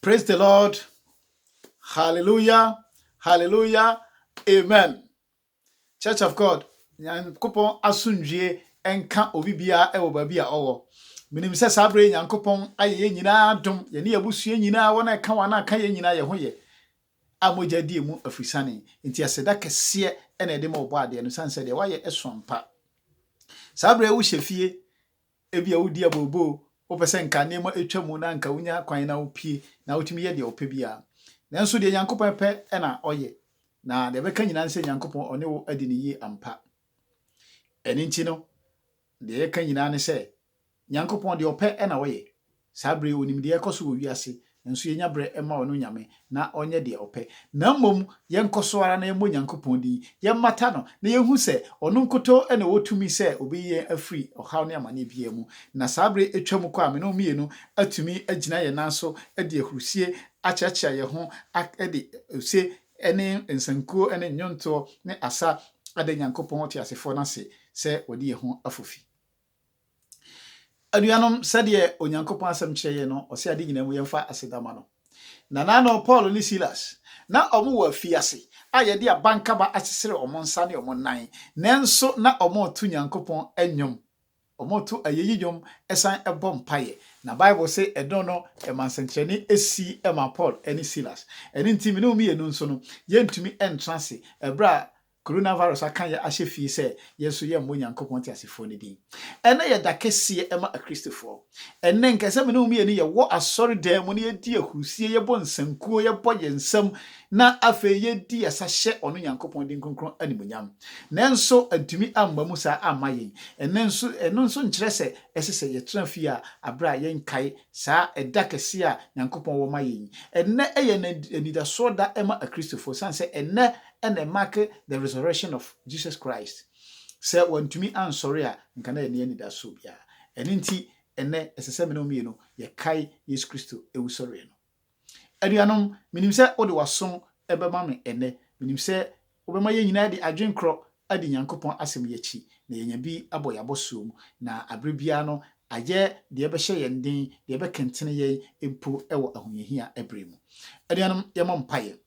Praise the Lord. Hallelujah. Hallelujah. Amen. Church of God. Nyankopɔn asomdwie nka obi biara ɛwɔ baabi a ɔwɔ. Menim sɛ saa bere Nyankopɔn ayɛ yɛn nyinaa adom. Yɛne abusua nyinaa wɔn a ɛka wɔn a aka yɛn nyinaa yɛ ho yɛ. A mogya die mu afirisane. Nti aseda kɛseɛ ɛna ɛde ma ɔbɔ adeɛ no san sɛ deɛ wayɛ ɛso ampa. Saa bere wohyɛ fie Ebia wudi abooboo, wopɛ sɛ nka nneɛma etwa mu na anka wunya kwan na wupue na wutumi yɛ deɛ wopɛ biara. Nanso deɛ Nyankopɔn pɛ na ɔyɛ, na deɛ ɛbɛka nyinaa ne sɛ Nyankopɔn ɔne wo adi no yie ampa. Ɛno nti no, deɛ yɛka nyinaa ne sɛ, Nyankopɔn deɛ ɔpɛ na ɔyɛ, Saa bere yi, onim deɛ ɛrekɔ so wɔ wiase, nanso yɛnya berɛ ma ɔno Nyame na ɔnyɛ deɛ ɔpɛ. Na mmom yɛnkɔ so ara na yɛmmɔ Nyankopɔn din, yɛmmata no, na yɛnhu sɛ ɔno nkutoo na ɔwɔ tumi sɛ ɔbɛyi yɛn afiri ɔhaw ne amaneɛ biara mu. Na saa bere atwa mu kɔ a me ne wo mmienu atumi agyina yɛn nan so de ahurusie akyeakyea yɛn ho de ose ne nsankuo ne nnwontoɔ ne asa ada Nyankopɔn ɔteasefoɔ no ase sɛ wadi yɛn ho afofi. Anuanom, sɛdeɛ Onyankopɔn asɛm kyerɛ yɛn no, ɔse ade nyinaa mu yɛmfa aseda ma no. Nananom Paul ne Silas, na wɔn wɔ afiase a yɛde abankaba asesere wɔn nsa ne wɔn nan, nanso na wɔreto Nyankopɔn nnwom, wɔreto ayeyi nnwom san bɔ mpaeɛ. Na Bible se ɛno no ɛmaa nsɛnkyerɛnne sii maa Paul ne Silas. Ɛno nti me ne wo mmienu nso no, yɛntumi ntra ase berɛ a Coronavirus aka yɛ ahyɛ fie sɛ yɛn nso yɛmmɔ Onyankopɔn teasefoɔ no din. Ɛnnɛ yɛ da kɛseɛ ma Akristofoɔ. Ɛnnɛ nka sɛ me ne wo mmienu yɛwɔ asɔredan mu na yɛdi ahurusie, yɛbɔ nsankuo, yɛbɔ yɛn nsam, na afei yɛdi asa hyɛ ɔno Nyankopɔn din kronkron animuonyam. Nanso antumi amma mu saa amma yɛn. Ɛnnɛ nso ɛno nso nkyerɛ sɛ ɛsɛ sɛ yɛtra fie a aberɛ a yɛnkae saa ɛda kɛseɛ a Nyankopɔn wɔ ma yɛn yi. Ɛnnɛ yɛ anidasoɔ da ma Akristofoɔ ɛsiane sɛ ɛnnɛ na ɛmake the resurrection of Jesus Christ. Sɛ wantumi ansɔre a, anka na ɛnni anidaso biara. Ɛno nti, ɛnnɛ ɛsɛ sɛ me ne wo mmienu yɛkae Yesu Kristo wusɔreɛ no. Anuanom, menim sɛ wode w'aso bɛma me ɛnnɛ. Menim sɛ wobɛma yɛn nyinaa de adwenkorɔ adi Nyankopɔn asɛm yi akyi, na yɛanya bi abɔ yɛn abɔsoɔ mu, na aberɛ biara no ayɛ deɛ ɛbɛhyɛ yɛn den, deɛ ɛbɛkentene yɛn mpo wɔ ahohiahia berɛ mu. Anuanom, yɛmmɔ mpaeɛ.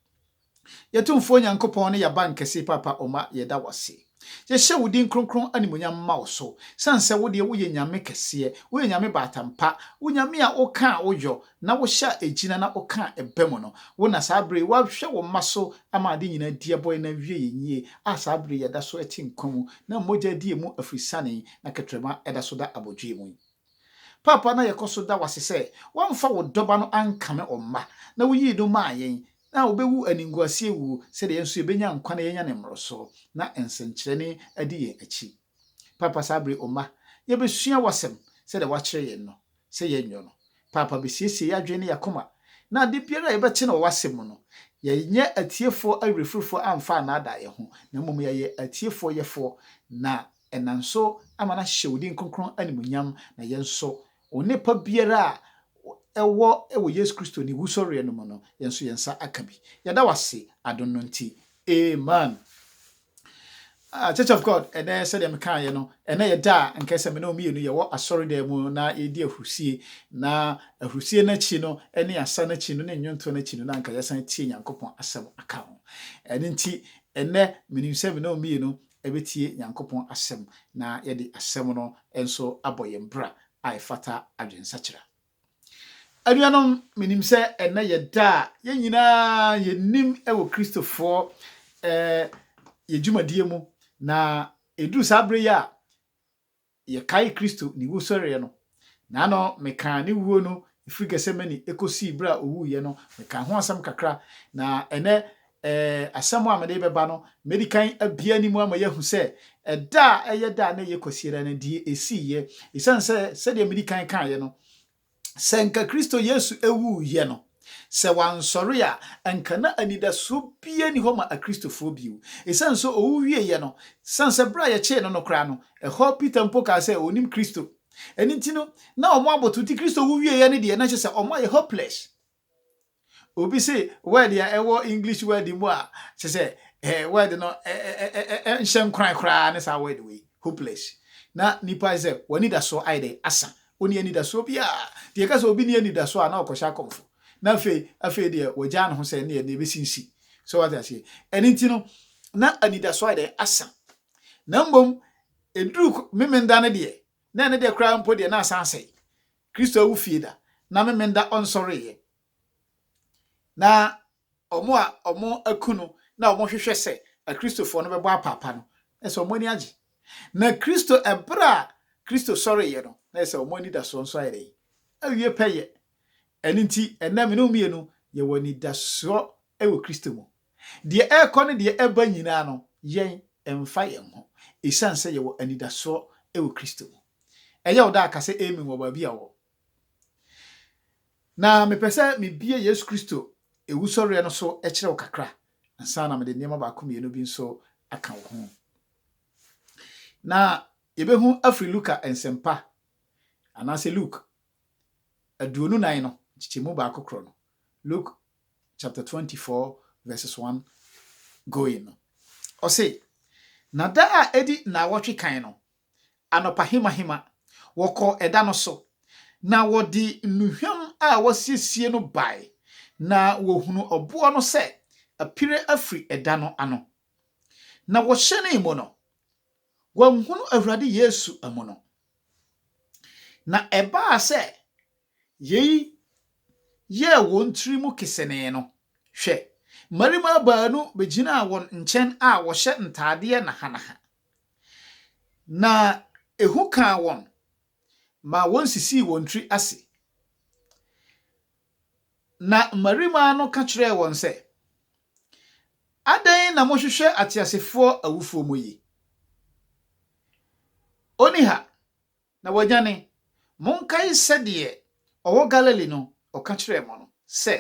Yɛ Tumfoɔ Nyankopɔn ne Y'aban Kɛse Paapa Oma Yɛda Wo Ase. Yɛ Hyɛ Wo Din Kronkron Animuonyam Mma Wo So, Sane Sɛ Wo Deɛ Wo Yɛ Nyame Kɛseɛ, Wo Yɛ Nyame Baatampa, Wo Nyame A Wo Kaa Wo Yɔ, Na Wo Hyɛ A Egyina Na Wo Kaa Ɛba Mu No, Wo Na Saa Bere Yi Wa Hwɛ Wo Mma So Ama Ade Nyinaa Di Ɛbɔ Yɛ Na Wie Yɛ Nyie A Saa Bere Yi Yɛ Da So Ɛte Nkwa Mu Na Mogya Adi Yɛ Mu Afiri Sane Yi Na Kɛtrɛma Ɛda So Da Abodwoe Mu Yi Paapa Na Yɛ Kɔ So Da Wo Ase Sɛ Wa Nfa Wo Dɔba No Ankame Oma Na Wo Yii No Maa Yɛn Na wobewu animguaseɛ wuo, sɛdeɛ yɛn nso yɛbɛnya nkwa na yɛanya ne mmorosoɔ, na nsɛnkyerɛnne adi yɛn akyi. Paapa saa bere Oma, yɛbɛsua w'asɛm, sɛdeɛ woakyerɛ yɛn no, sɛ yɛnyɔ no. Paapa bɛsiesie yɛn adwene ne yɛn akoma, na ade biara a yɛbɛte no wɔ w'asɛm mu no, yɛnyɛ atiefoɔ awerɛfirifoɔ amfa annaadaa yɛn ho, na mmom yɛayɛ atiefoɔ yɛfoɔ, na Ɛnam nso ama no ahyehyɛ wo din kronkron animuonyam, na yɛn nso, onipa biara a ɛwɔ wɔ Yesu Kristo ne wusɔreɛ no mu no, yɛn nso yɛn nsa aka bi. Yɛda wo ase adom no nti. Amen. Ah, Church of God, ɛnɛ sɛdeɛ mekaeɛ no, ɛnɛ yɛ da a nkae sɛ me ne wo mmienu yɛwɔ asɔredan mu na yɛredi ahurusie, na ahurusie no akyi no ne asa no akyi no ne nnwontoɔ no akyi no na anka yɛasan atie Nyankopɔn asɛm aka ho. Ɛno nti, ɛnɛ menim sɛ me ne wo mmienu bɛtie Nyankopɔn asɛm na yɛde asɛm no nso abɔ yɛn bra a ɛfata adwensakyera. Anuanom, menim sɛ ɛnnɛ yɛ da a yɛn nyinaa yɛnim wɔ Kristofoɔ yɛ dwumadie mu, na ɛduru saa berɛ yi a Yɛkae Kristo ne wusɔreɛ no, naano mekaa ne wuo no firi Gethsemane kɔsii berɛ a ɔwuiɛ no, mekaa ho asɛm kakra, na ɛnnɛ eh, asɛm a mede rebɛba no, mɛdikan abue ne mu ama yɛahu sɛ ɛda a ɛyɛ da a na ɛyɛ Kwasiada no, deɛ ɛsiiɛ, ɛsiane sɛ sɛdeɛ medi kan kaeɛ no, sɛ nka Kristo Yesu wuiɛ no, sɛ wansɔre a, anka na anidasoɔ biara nni hɔ ma Akristofoɔ bio. Ɛsiane sɛ ɔwu wieeɛ no, sane sɛ berɛ a yɛkyee no no koraa no, ɛhɔ Peter mpo kaa sɛ ɔnnim Kristo. Ɛno nti no, na wɔabotow nti Kristo wu wieeɛ no deɛ, na kyerɛ sɛ wɔayɛ hopeless. Obi se word a ɛwɔ English word mu a kyerɛ sɛ eh, word no nhyɛ nkoran koraa ne saa word wei, hopeless. Na nipa ayɛ sɛ w'anidasoɔ ayɛ dɛ asa. Wonni anidasoɔ biara. Nti yɛka sɛ obi nni anidasoɔ a na ɔkɔhyɛ akɔmfo. Na afei afei deɛ wagyaa ne ho sɛ ɛneɛ deɛ ɛbɛsi nsi. So wate aseɛ? Ɛno nti no na anidasoɔ ayɛ dɛ asa. Na mmom ɛduru memenda no deɛ na ɛno deɛ koraa mpo deɛ na asan asɛe. Kristo awu fie da, na Memenda ɔnsɔreeɛ. Na wɔn a wɔaku no na wɔhwehwɛ sɛ Akristofoɔ no bɛbɔ apaapa no, na ɛsɛ sɛ wɔn ani agye. Na Kristo, berɛ a Kristo sɔreeɛ no, na ɛsɛ sɛ wɔn anidasoɔ nso ayɛ dɛn? Awie pɛyɛ. Ɛno nti, ɛnnɛ me ne wo mmienu, yɛwɔ anidasoɔ wɔ Kristo mu. Deɛ ɛrekɔ ne deɛ ɛreba nyinaa no, yɛn, ɛmfa yɛn ho, esiane sɛ yɛwɔ anidasoɔ wɔ Kristo mu. Ɛyɛ wo dɛ a, ka sɛ Amen wɔ baabi a wowɔ. Na mepɛ sɛ mebue Yesu Kristo Owusɔreɛ no so kyerɛ wo kakra ansa na mede nneɛma baako mmienu bi nso aka wo ho. Na yɛbɛhu afiri Luka Nsɛmpa, anaasɛ Luke, aduonu nan no, nkyekyɛmu baako korɔ no, Luke chapter twenty four verses one going no, ɔse, Na da a edi nnawɔtwe kan no, anɔpahemahema, wɔkɔɔ ɛda no so, na wɔde nnuhwam a wɔasiesie no bae, na wɔhunuu ɔboɔ no sɛ apire afiri ɛda no ano. Na wɔhyɛnee mu no, wɔanhunu Awurade Yesu amu no. Na ɛbaa sɛ yei yɛɛ wɔn tirim kesenee no, hwɛ, mmarima baanu bɛgyinaa wɔn nkyɛn a wɔhyɛ ntaadeɛ nahanaha, na ehu kaa wɔn maa wɔsisii wɔn tiri ase. Na mmarima no ka kyerɛɛ wɔn sɛ. Adɛn na mohwehwɛ ateasefoɔ awufoɔ mu yi? Ɔnni ha, na wanyane. Monkae sɛdeɛ ɔwɔ Galilee no, ɔka kyerɛɛ mo no, sɛ,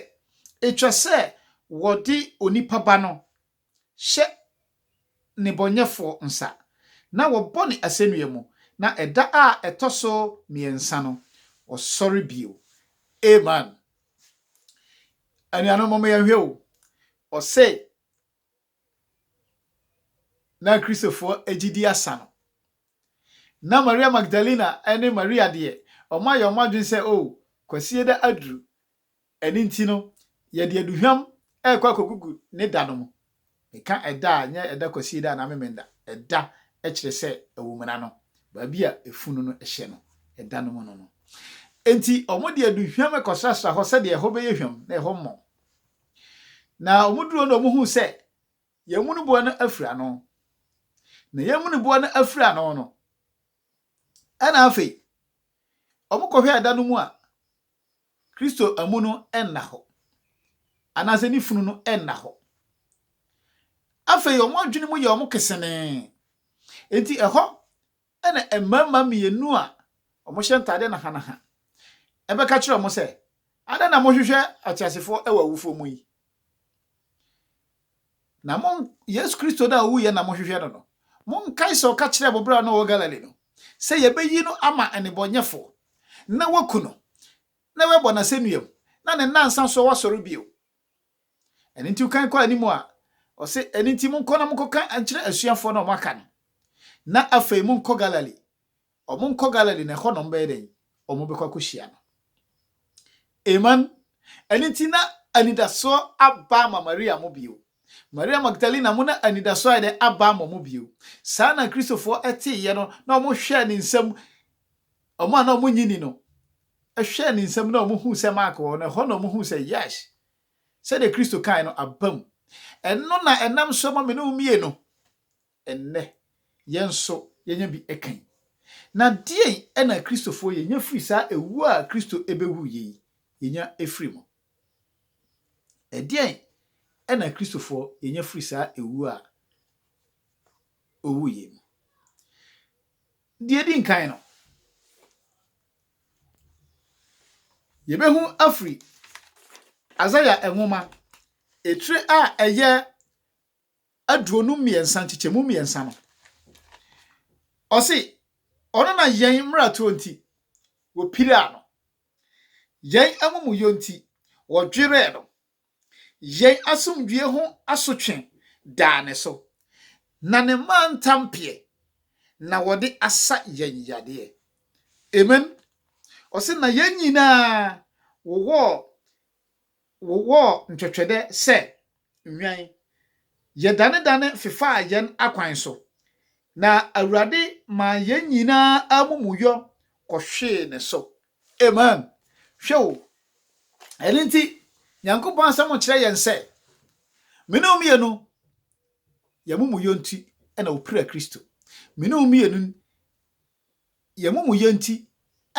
'Ɛtwa sɛ wɔde onipa Ba no hyɛ nnebɔneyɛfoɔ nsa, na wɔbɔ no asɛnnua mu, na ɛda a ɛtɔ so mmiɛnsa no, ɔsɔre bio. Amen. anuanom mo yɛn hwɛ o ɔse na kristofoɔ agyidi asa no na maria magdalena ne maria deɛ ɔma yɛ ɔma adwene sɛ o kwasie da aduru ɛne nti no yɛde aduhwam ɛkɔ akɔgugu ne da no mu Meka ɛda a, nyɛ ɛda Kwasieda anaa Memenda. Ɛda kyerɛ sɛ awumena no, baabi a efunu no hyɛ no, ɛda no mu no no. Enti wɔde aduhwam kɔsrasra hɔ sɛdeɛ ɛhɔ bɛyɛ hwam na ɛhɔ mmɔn. Na wɔduru hɔ na wɔhuu sɛ Yɛamunuboɔ no afiri ano. Na Yɛamunuboɔ no afiri ano no, ɛna afei wɔkɔhwɛ ɛda no mu a, Kristo amu no nna hɔ, anaasɛ ne funu no nna hɔ. Afei wɔn adwene mu yɛ wɔn kesenee. Enti ɛhɔ na mmarima mmienu a wɔhyɛ ntade nahanaha bɛka kyerɛ wɔn sɛ, Adɛn na mohwehwɛ ateasefoɔ wɔ awufoɔ mu yi? Na mo, Yesu Kristo no a owuiɛ na mohwehwɛ no no, monkae sɛ ɔka kyerɛɛ mo berɛ a na ɔwɔ Galilee no sɛ yɛbɛyi no ama nnebɔnyɛfoɔ, na wɔaku no, na wɔabɔ no asɛnnua mu, na ne nnansa so wasɔre bio. Ɛno nti wokan kɔ anim a, ɔse, ɛno nti monkɔ na monkɔka nkyerɛ asuafoɔ no a wɔaka no, na afei monkɔ Galilee, Wɔnkɔ Galilee, na ɛhɔ na wɔbɛyɛ dɛn? Wɔbɛkɔ akɔhyia no. Amen. Ɛno nti, na anidasoɔ aba ama Maria mo bio. Maria Magdalena mo na anidasoɔ ayɛ dɛn? Aba ama mo bio. Saa na Kristofoɔ teeɛ no, na wɔhwɛɛ ne nsam, wɔn a na wɔnnye nni no, hwɛɛ ne nsam na wɔhuu sɛ mark wɔ hɔ no, ɛhɔ na wɔhuu sɛ, Yes, sɛdeɛ Kristo kaeɛ no, abam. Ɛno na ɛnam so ma me ne wo mmienu Ɛnnɛ, yɛn nso yɛanya bi kan. Na deɛn na Kristofoɔ yɛnya firi saa ɛwuo a Kristo bɛwuiɛ yi? Yɛnya firi mu. Ɛdeɛn na Kristofoɔ yɛnya firi saa ɛwuo a ɔwuiɛ mu? Deɛ ɛdi nkan no, yɛbɛhu afiri Isaia nwoma etire a ɛyɛ aduonu mmiɛnsa nkyekyɛmu mmiɛnsa no, ɔse ɔno na yɛn mmaratorɔ nti wɔpiraa no, yɛn amumuyɔ nti wɔdwerɛɛ no, yɛn asomdwoeɛ ho asotwe daa ne so, na ne mantampeɛ na wɔde asa yɛn yadeɛ. Amen. Ɔse na yɛn nyinaa wowɔɔ Wɔwɔɔ ntwɛtwɛdɛ sɛ nhwɛn. Yɛdanedane fefaa yɛn akwan so, na Awurade maa yɛn nyinaa amumuyɔ kɔhwee ne so. Amen. Hwɛ o, ɛno nti Nyankopɔn Asɛm kyerɛ yɛn sɛ, Me ne wo mmienu, yɛn amumuyɔ nti na wɔpiraa Kristo. Me ne wo mmienu. Yɛn amumuyɛ nti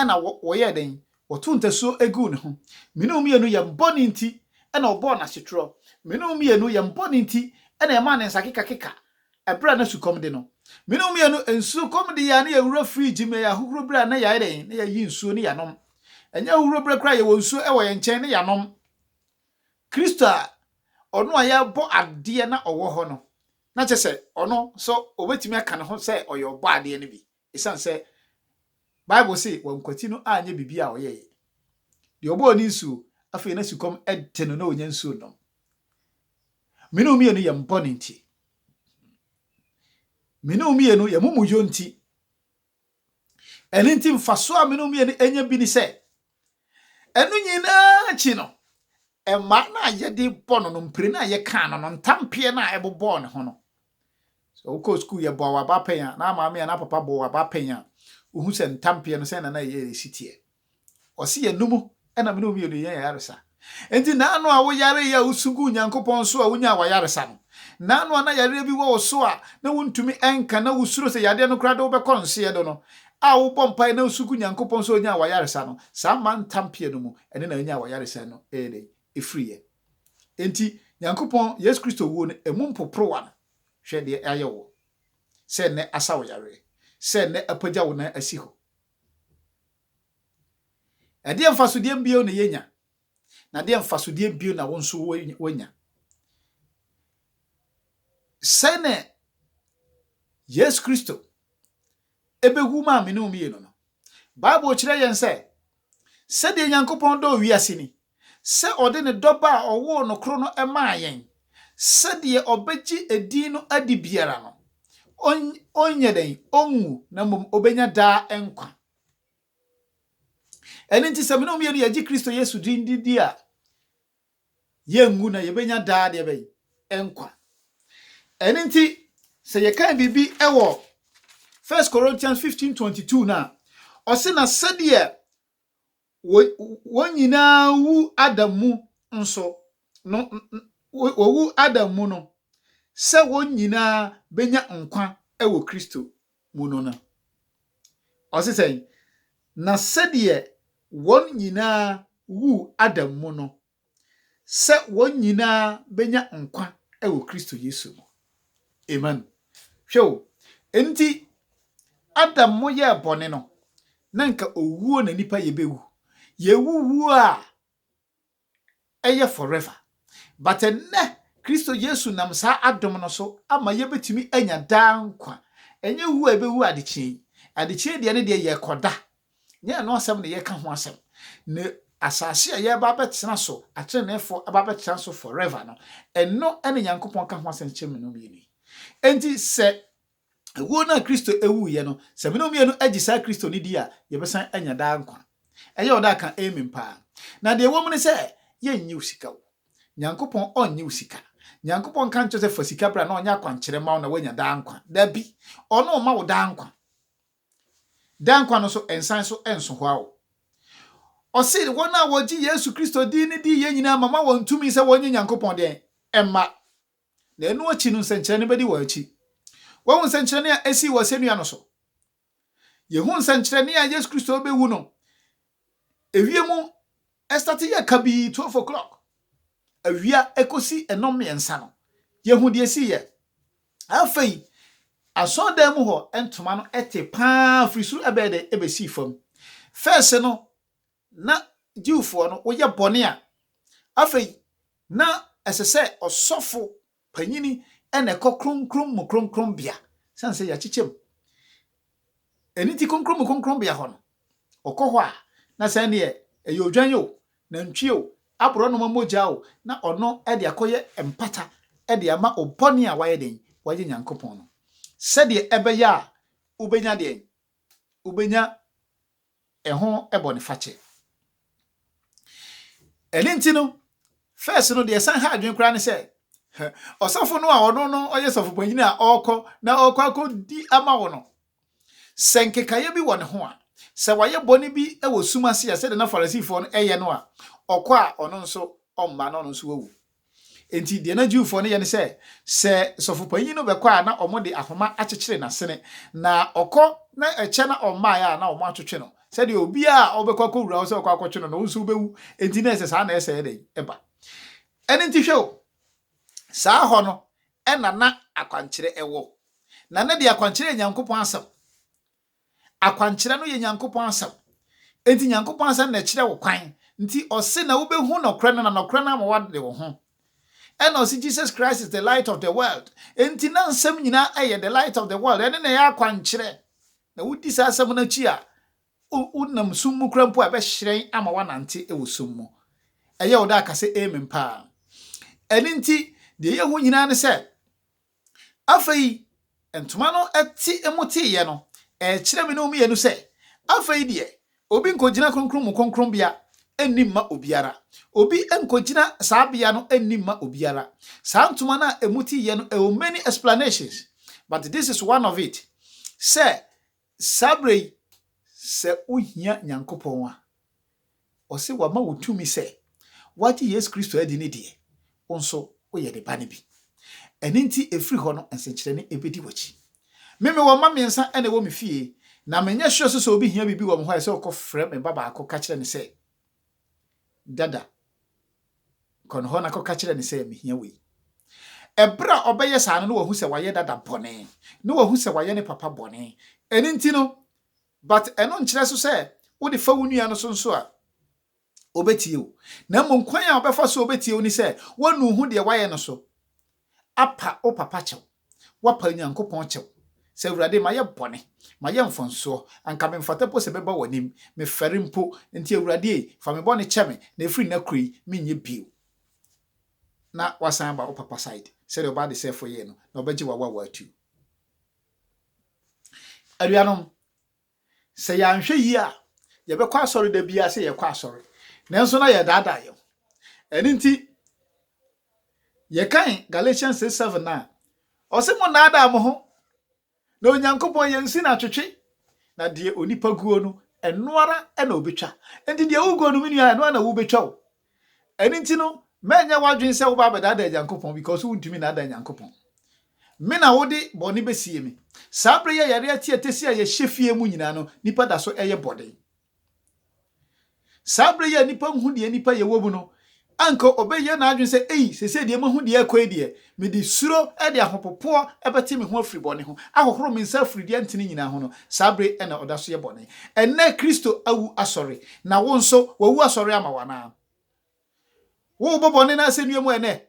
na wɔyɛɛ dɛn? Wɔtoo ntasuo guu ne ho. Me ne wo mmienu, yɛn bɔne nti na wɔbɔɔ no asetorɔ. Me ne wo mmienu, yɛn bɔne nti na yɛmaa ne nsa kekakeka berɛ a na sukɔm de no. Me ne wo mmienu, nsukɔm de yɛn a na yɛwura fridge mu, ɛyɛ ahohuro berɛ a na yɛayɛ dɛn? Na yɛayi nsuo na yɛanom. Ɛnyɛ ahohuro berɛ koraa a yɛwɔ nsuo wɔ yɛn nkyɛn na yɛanom. Kristo a ɔno a yɛrebɔ adeɛ na ɔwɔ hɔ no, na kyerɛ sɛ ɔno nso obetumi aka ne ho sɛ ɔyɛ Ɔbɔadeɛ no bi esiane sɛ Bible se wankwati no anyɛ biribi a ɔyɛe. Deɛ ɔbɔɔ ne nsuo, afei na sukɔm de no na ɔnya nsuo nnom. Mene wo mmienu yɛn bɔne nti. Mene wo mmienu yɛn mumuyɔ nti. Ɛno nti, mfaso a me ne wo mmienu anya bi ne sɛ, ɛno nyinaa akyi no, mmaa no a yɛde bɔ no no, mpire no a yɛkaa no no, ntampeɛ no a ɛbobɔɔ ne ho no, sɛ wokɔɔ sukuu yɛbɔɔ w'abapɛn a, na maame a na papa bɔɔ w'abapɛn a, wohu sɛ ntampeɛ no sɛn na na ɛyɛ ɛsi teɛ. Ɔse yɛn no mu na me ne wo mmienu yɛn ayaresa. Enti naano a wo yaree a wosu guu Nyankopɔn so a wonyaa w'ayaresa no? Naano a na yareɛ bi wɔ wo so a na wontumi nka na wo suro sɛ yadeɛ no koraa de wo bɛkɔ nseɛ do no a wo bɔ mpaeɛ na wo su gu Nyankopɔn so a onyaa w'ayaresa no? Saa mma ntampea no mu ɛne na yɛnyaa w'ayaresa no ɛyɛ dɛn? Ɛfiriiɛ. Enti Nyankopɔn Yesu Kristo wuo no ɛmu mpoporowa no hwɛ deɛ ayɛ woɔ. Sɛ nnɛ asa wo yareɛ. Sɛ nnɛ apagya wo nan asi hɔ. Ɛdeɛn mfasodeɛ bio na yɛnya? Na ɛdeɛn mfasodeɛ bio na wo nso woanya? Sɛne Yesu Kristo ɛbɛwu maa me ne wo mmienu no, Bible kyerɛ yɛn sɛ, sɛdeɛ Nyankopɔn dɔɔ wiase ni, sɛ ɔde ne Dɔba a ɔwoo no koro no maa yɛn, sɛ deɛ ɔbɛgye edin no adi biara no, ɔnn ɔnyɛ dɛn? Ɔnwu, na mmom ɔbɛnya daa nkwa. Ɛno nti, sɛ me ne wo mmienu yɛgye Kristo Yesu din di di a, yɛnwu na yɛbɛnya daa deɛ bɛn? Nkwa. Ɛno nti, sɛ yɛkan biribi wɔ 1 Corinthians 15:22 no a, ɔse na sɛdeɛ Wo, wɔn nyinaa wu Adam mu nso no, wɔwu Adam mu no, sɛ wɔn nyinaa bɛnya nkwa wɔ Kristo mu no na. Ɔse sɛn? Na sɛdeɛ wɔn nyinaa wu Adam mu no, sɛ wɔn nyinaa bɛnya nkwa wɔ Kristo Yesu mu. Amen. Hwɛ o, enti Adam mo yɛɛ bɔne no, na nka owuo na nipa yɛ bɛwu. Yɛwu wuo a ɛyɛ forever. But ɛnnɛ, Kristo Yesu nam saa adom no so ama yɛbɛtumi anya daa nkwa. Ɛnyɛ wuo a yɛbɛwu adekyeɛ yi. Adekyeɛ deɛ ne deɛ yɛkɔda Nyɛ ɛno asɛm na yɛreka ho asɛm, na asase a yɛreba abɛtena so, atreneefo aba abɛtena so forever no, ɛno na Nyankopɔn ka ho asɛm kyerɛ me ne wo mmienu yi. Enti sɛ wuo no a Kristo wuiɛ no, sɛ me ne wo mmienu gye saa Kristo no di a, yɛbɛsan anya daa nkwa. Ɛyɛ wo dɛ a, ka amen paa. Na deɛ ɛwɔ mu ne sɛ, yɛnnye wo sika o. Nyankopɔn ɔnnye wo sika. Nyankopɔn nka nkyerɛ wo sɛ fa sika bra na ɔnyɛ akwankyerɛ mma wo na woanya daa nkwa. Dabi. Ɔno remma wo daa nkwa. Daa nkwa no nso, ɛnsan so nso hɔ ara. Ɔse, wɔn a wɔgye Yesu Kristo din no di yɛ nyinaa mama wɔn tumi sɛ wɔnyɛ Nyankopɔn dɛn? Mma. Na ɛno akyi no nsɛnkyerɛnne bɛdi wɔn akyi. Woahu nsɛnkyerɛnne a ɛsii wɔ asɛnnua no so? Yɛhu nsɛnkyerɛnne a Yesu Kristo rebɛwu no Ɛwie mu ɛstate yɛ kabii twelve o'clock awia ɛkɔsi ɛnɔm mmiɛnsa no yɛhu deɛ ɛsiiɛ. Afei asɔredan mu hɔ ntoma no ɛte paa firi soro ɛbɛyɛ dɛ ɛbɛsii fam. First no na Jewfoɔ no woyɛ bɔne a afei na ɛsɛ sɛ ɔsɔfo Panyin na ɛkɔ Kronkron mu Kronkronbea, esiane sɛ yɛakyekyɛ mu. Ɛno nti Kronkron mu Kronkronbea hɔ no, ɔkɔ hɔ a, na sɛ ɛnneɛ ɛyɛ odwan o, nantwie o, aborɔnoma mogya o, na ɔno de akɔyɛ mpata de ama obɔne a wayɛ dɛn? Wayɛ Nyankopɔn no. Sɛdeɛ ɛbɛyɛ a wobɛnya deɛn? Wobɛnya ho bɔnefakyɛ. Ɛno nti no, first no, deɛ ɛsan ha adwene koraa ne sɛ, ɔsɔfo no a ɔno no ɔyɛ sɔfopanyin a ɔrekɔ na ɔrekɔ akɔdi ama wo no, sɛ nkekaeɛ bi wɔ ne ho a, sɛ wayɛ bɔne bi wɔ sum ase a, sɛdeɛ na Farisifoɔ no yɛ no a, ɔkɔ a ɔno nso ɔmma na ɔno nso wawu. Enti deɛ na Jewfoɔ no yɛ ne sɛ, sɛ sɔfopanyin no bɛkɔ a na wɔde ahoma akyekyere n'asene, na ɔkɔ na ɛkyɛ na ɔmmaeɛ a na wɔatwetwe no, sɛdeɛ obiara a ɔbɛkɔ akɔwura wo sɛ ɔkɔ akɔtwe no no, wo nso wobɛwu. Enti na ɛsɛ saa na ɛsɛeɛ dɛn? Ɛba. Ɛno nti hwɛ o, saa hɔ no na na akwankyerɛ wɔ, na na deɛ akwankyerɛ yɛ Nyankopɔn asɛm. Akwankyerɛ no yɛ Nyankopɔn Asɛm. Enti Nyankopɔn Asɛm na ɛkyerɛ wo kwan. Nti ɔse na wobɛhu nɔkorɛ no na nɔkorɛ no ama woade wo ho. Ɛna ɔse Jesus Christ is the light of the world. Enti na nsɛm nyinaa ɛyɛ the light of the world. Ɛno na ɛyɛ akwankyerɛ. Na wodi saa asɛm no akyi a, wo nam sum mu kora mpo a ɛbɛhyerɛn ama woanante wɔ sum mu. Ɛyɛ wo dɛ a ka sɛ Amen paa. Ɛno nti deɛ ɛyɛ hu nyinaa ne sɛ Afei, ntoma no te mu teeɛ no, ɛrekyerɛ me ne wo mmienu sɛ, afei deɛ, obi nkɔgyina Kronkron mu Kronkronbea nni mma obiara. Obi nkɔgyina saa bea no nni mma obiara. Saa ntoma no a ɛmu teeɛ no, ɛwɔ many explanations, but this is one of it, sɛ Saa berɛ yi, sɛ wohia Nyankopɔn a, ɔse wama wo tumi sɛ woagye Yesu Kristo adi ne deɛ, wo nso woyɛ ne ba no bi. Ɛno nti ɛfiri hɔ no nsenkyerɛnne ɛbɛdi w'akyi. Me mewɔ mma mmiɛnsa na ɛwɔ me fie, na menyɛ sure nso sɛ obi hia biribi wɔ me hɔ a ɛsɛ ɔkɔfrɛ me ba baako ka kyerɛ no sɛ, Dada, Kɔ ne hɔ na kɔka kyerɛ no sɛ, 'Mihia wei. Bere a ɔbɛyɛ saa no, na wahu sɛ wayɛ dada bɔne. Na wahu sɛ wayɛ ne papa bɔne. Ɛno nti no, but ɛno nkyerɛ so sɛ wode fa wo nua no so nso a, obetie wo. Na mmom kwan a ɔbɛfa so a obetie wo ne sɛ, woanu wo ho deɛ woayɛ no so. Apa wo papa kyɛw, woapa Nyankopɔn kyɛw, sɛ, Awurade, mayɛ bɔne, mayɛ mfomsoɔ, anka memfata mpo sɛ mɛba w'anim, mefɛre mpo, enti Awurade ei, fa me bɔne kyɛ me, na ɛfiri nnɛ koro yi, menyɛ bio. Na woasan aba wo papa side, sɛdeɛ ɔbaa desɛefoɔ yɛɛ no, na ɔbɛgye wo awawa atuo. Anuanom, Sɛ yɛanhwɛ yie a, yɛbɛkɔ asɔre da biara sɛ yɛrekɔ asɔre, nanso na yɛredaadaa yɛn ho. Ɛno nti, yɛkan Galatians 6, 7 no a, ɔse monnaadaa mo ho, na Onyankopɔn yɛ nsi na atwetwe, na deɛ onipa guo no, ɛno ara na ɔbɛtwa. Enti deɛ woguo no, me nua, ɛno ara na wobɛtwa o. Ɛno nti no, mɛnyɛ w'adwene sɛ woba abɛdaadaa Nyankopɔn, because wontumi nnaadaa Nyankopɔn. Me na wode bɔne bɛsie me. Saa berɛ yi a yareɛ te atɛsi a yɛhyɛ fie mu nyinaa no, nnipa da so yɛ bɔne. Saa berɛ yi a nnipa nhu deɛ nnipa yɛ wɔ mu no, anka ɔbɛyɛ n'adwene sɛ, ei, seesei deɛ mahu deɛ ɛrekɔ yi deɛ, Mede suro de ahopopoɔ bɛte me ho afiri bɔne ho, ahohoro me nsa afiri deɛ ɛntene nyinaa ho no, saa bere na ɔda so yɛ bɔne. Ɛnnɛ Kristo awu asɔre, na wo nso, wawu asɔre ama wo anaa? Worebɔ bɔne no asɛnnua mu ɛnnɛ,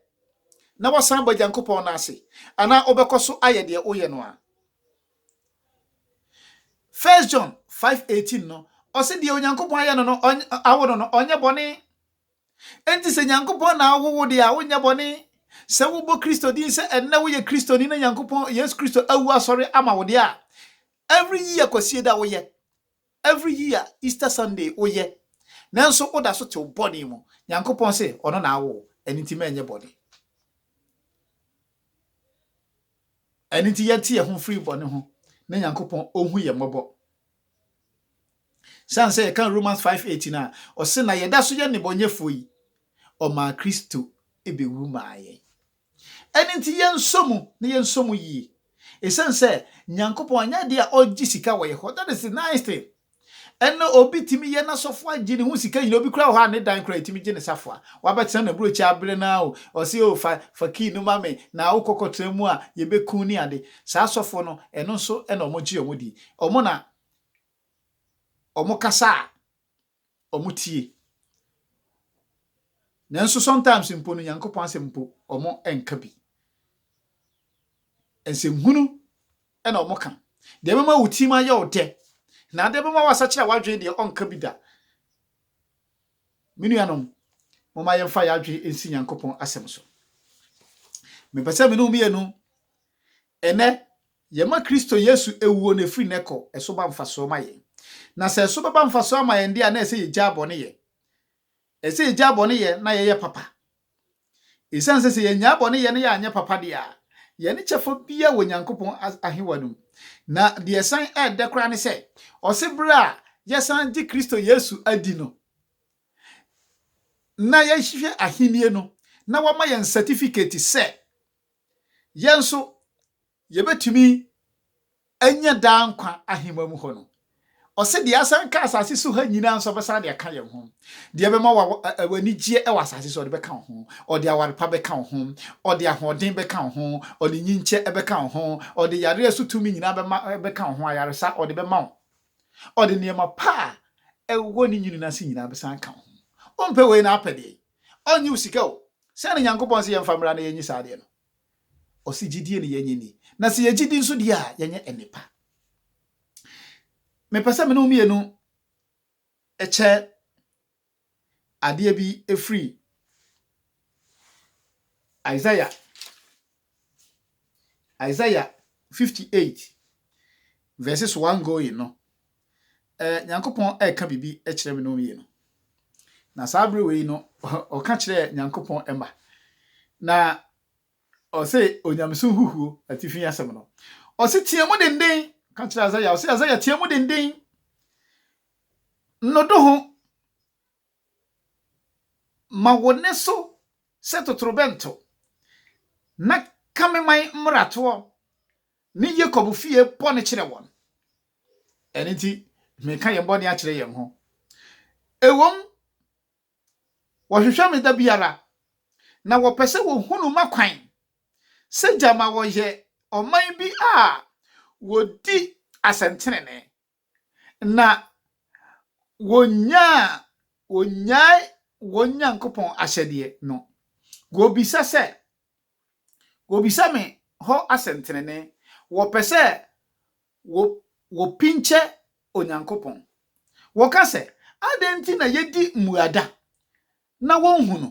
na woasan aba Onyankopɔn nan ase, anaa wobɛkɔ so ayɛ deɛ woyɛ no a? First John five eighteen no, ɔse deɛ Onyankopɔn ayɛ no no, ɔnyɛ, awo no no, ɔnyɛ bɔne. Enti sɛ Nyankopɔn na awo wo de a, wonyɛ bɔne. Sɛ wobɔ Kristo din sɛ ɛnnɛ woyɛ Kristoni na Nyankopɔn, Yesu Kristo, awu asɔre ama wo de a, every year Kwasieda woyɛ, every year Easter Sunday woyɛ, nanso woda so te wo bɔne mu. Nyankopɔn se Ɔno na awo wo, ɛno nti mɛnyɛ bɔne. Ɛno nti yɛte yɛn ho firi bɔne ho na Nyankopɔn ɔhu yɛn mmɔbɔ. Siane sɛ yɛka Romans 5:18 a, ɔse na yɛda so yɛ nnebɔnyɛfoɔ yi, ɔmaa Kristo bɛwu maa yɛn. Ɛno nti yɛnsɔ mu na yɛnsɔ mu yie. Ɛsiane sɛ Nyankopɔn anyɛ adeɛ a ɔgye sika wɔ yɛn hɔ, that is the nice thing. Ɛnna obi tumi yɛ n'asafoa gye ne ho sika nyina. Obi koraa wɔ hɔ a, ne dan koraa ɛtumi gye ne safoa. Wabɛtena n'aburokyi abere no ara o, ɔse o fa fa key no ma me na wokɔ kɔtena mu a yɛbɛku ne ade. Saa asɔfoɔ no, ɛno nso na wɔgye wɔn di. Wɔn na wɔkasa a wɔtie. Nanso sometimes mpo no, Nyankopɔn asɛm mpo wɔnka bi. Nsɛmhunu na wɔka. Deɛ ɛbɛma wo tirim ayɛ wo dɛ, na adeɛ bɛma woasakyera w'adwene deɛ, ɔnka bi da. Me nuanom, momma yɛmfa yɛn adwene nsi Nyankopɔn asɛm so. Mepɛ sɛ me ne wo mmienu, ɛnnɛ, yɛma Kristo Yesu awuo no ɛfiri nnɛ kɔ ɛso ba mfasoɔ ma yɛn. Na sɛ ɛso bɛba mfasoɔ ama yɛn deɛ a, na ɛsɛ yɛgyaa bɔne yɛ. Ɛsɛ yɛgyaa bɔne yɛ na yɛyɛ papa. Esiane sɛ sɛ yennyaa bɔne yɛ na yɛanyɛ papa de a, yɛne kyɛfa biara wɔ Onyankopɔn ahewa no mu. Na deɛ ɛsan yɛ dɛ koraa ne sɛ, ɔse berɛ a yɛsan gye Kristo Yesu adi no, na yɛhwehwɛ Ahennie no, na wɔama yɛn sɛtifiketi sɛ yɛn nso Yɛbɛtumi anya daa nkwa ahema mu hɔ no, ɔse deɛ asan ka asase so ha nyinaa nso ɔbɛsan de aka yɛn ho. Deɛ ɛbɛma w'anigyeɛ wɔ asase so ɔde bɛka wo ho, ɔde aware pa bɛka wo ho, ɔde ahoɔden bɛka wo ho, ɔde nyinkyɛ bɛka wo ho, ɔde yareɛ so tumi nyinaa bɛma bɛka wo ho, ayaresa ɔde bɛma wo, ɔde nneɛma pa a ɛwɔ ne nwunu no ase nyinaa bɛsan aka wo ho. Wompɛ wei na apɛ deɛn? Ɔnnye wo sika o. Sɛn na Nyankopɔn se yɛmfa mmra na yɛnyi saa adeɛ no? Ɔse gyidie ne yɛnyɛ ni. Na sɛ yɛgyedi nso deɛ a yɛnyɛ nnepa. Mepɛ sɛ me ne wo mmienu kyɛ adeɛ bi firi Isaiah Isaiah 58 verses 1 going no. Eh, Nyankopɔn ɛka biribi kyerɛ me ne wo mmienu. Na saa bere wei no, ɔka kyerɛ Nyankopɔn ɛma. Na Ɔse onyamesom huhuo atifi asɛm no. Ɔse tea mu denden ka kyerɛ Azaya. Ɔse Azaya tea mu denden. No do ho. Ma wo ne so sɛ totorobɛnto. Na ka me man mmaratoɔ ne Yakob fie bɔne kyerɛ wɔn. Ɛno nti mereka yɛn bɔne akyerɛ yɛn ho. Ɛwom Wɔhwehwɛ me da biara, na wɔpɛ sɛ wɔhunu m'akwan. Sɛ gyama wɔyɛ ɔman bi a wɔdi asɛntenenee, na wɔnyaa wɔnnyae wɔn Nyankopɔn ahyɛdeɛ no. Wɔbisa sɛ, wɔbisa me hɔ asɛntenenee, wɔpɛ sɛ wo, wopinkyɛ Onyankopɔn. Wɔka sɛ, Adɛn nti na yedi mmuada na wonhu no?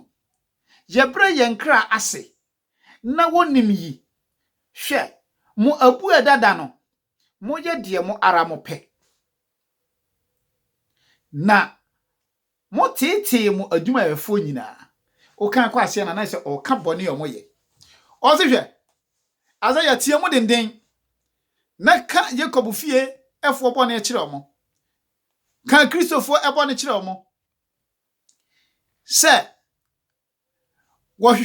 Yɛbrɛ yɛn kra ase na wonnim yi? Hwɛ, mo abuada da no, moyɛ deɛ mo ara mopɛ, na Mo teetee mo adwumayɛfoɔ nyinaa. Wokan kɔ aseɛ no a na ayɛ sɛ ɔreka bɔne a wɔyɛ. Ɔse hwɛ, asɛ yɛatia mo denden, na ka Yakob fie foɔ bɔne kyerɛ wɔn, ka Kristofoɔ bɔne kyerɛ wɔn, sɛ wɔhwehwɛ